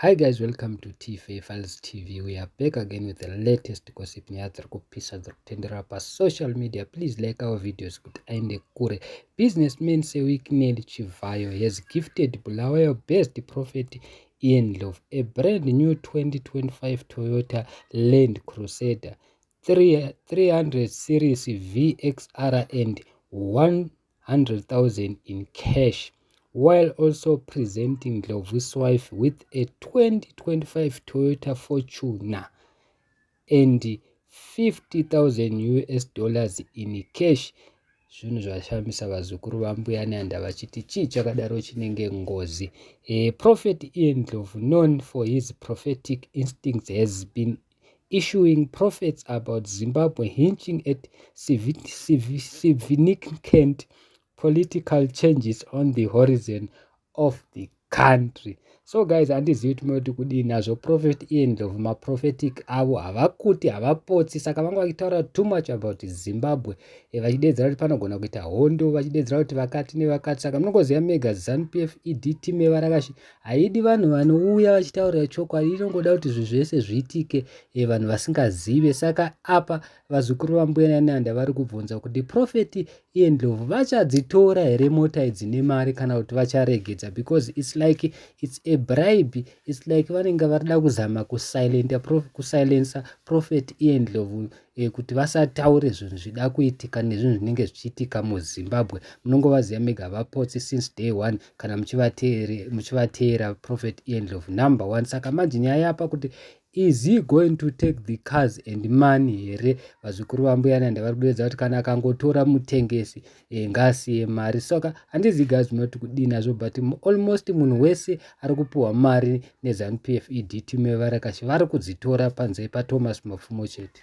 Hi guys welcome to TFA Files TV we are back again with the latest gossip nyaya dziri kupisa dziri kutenderera pasocial media please like our videos kuti aende kure businessman sewicknel chivhayo has gifted bulawayo best prophet ian love a brand new 2025 toyota land crusader 300 series vxr and 1 100,000 in cash while also presenting Ndlovu's wife with a 2025 Toyota Fortuner and 50,000 US dollars in cash zvinhu zvashamisa vazukuru vambuya neanda vachiti chii chakadaro chinenge ngozi e prophet ian ndlovu known for his prophetic instincts has been issuing prophets about Zimbabwe hinching at significant political changes on the horizon of the country. So guys, handizivi kuti moti kudii nazvo prophet iye ndlovu maprophetic avo havakuti havapotsi saka vanga vachitaura too much about Zimbabwe e, vachideedzera kuti panogona kuita hondo vachideedzera kuti vakati nevakati saka munongoziva mega zanupf ed team yevarakashi Haidi vanhu vanouya vachitaurira chokwadi inongoda kuti zvinhu zvese zviitike e, vanhu vasingazive saka apa vazukuru vambuya nananda vari kubvunza kuti profeti iye ndlovu vachadzitora here mota idzi nemari kana kuti vacharegedza because its like its a bribe its like vanenge varida kuzama kusilenta prof, kusilensa profeti iye ndlovu e, kuti vasataure zvinhu zvida kuitika nezvinhu zvinenge zvichiitika muzimbabwe munongovaziva mega vapotsi since day one kana muchivateera prophet ian ndlovu number one saka manje nyaya yapa kuti is he going to take the cars and money here vazukuru vambuyananda vari kuderedza kuti kana akangotora mutengesi e, ngasiye mari soka handizi gaz not kudii nazvo but almost munhu wese ari kupiwa mari nezanu p f e d team yevarakashi vari kudzitora panze pathomas mapfumo chete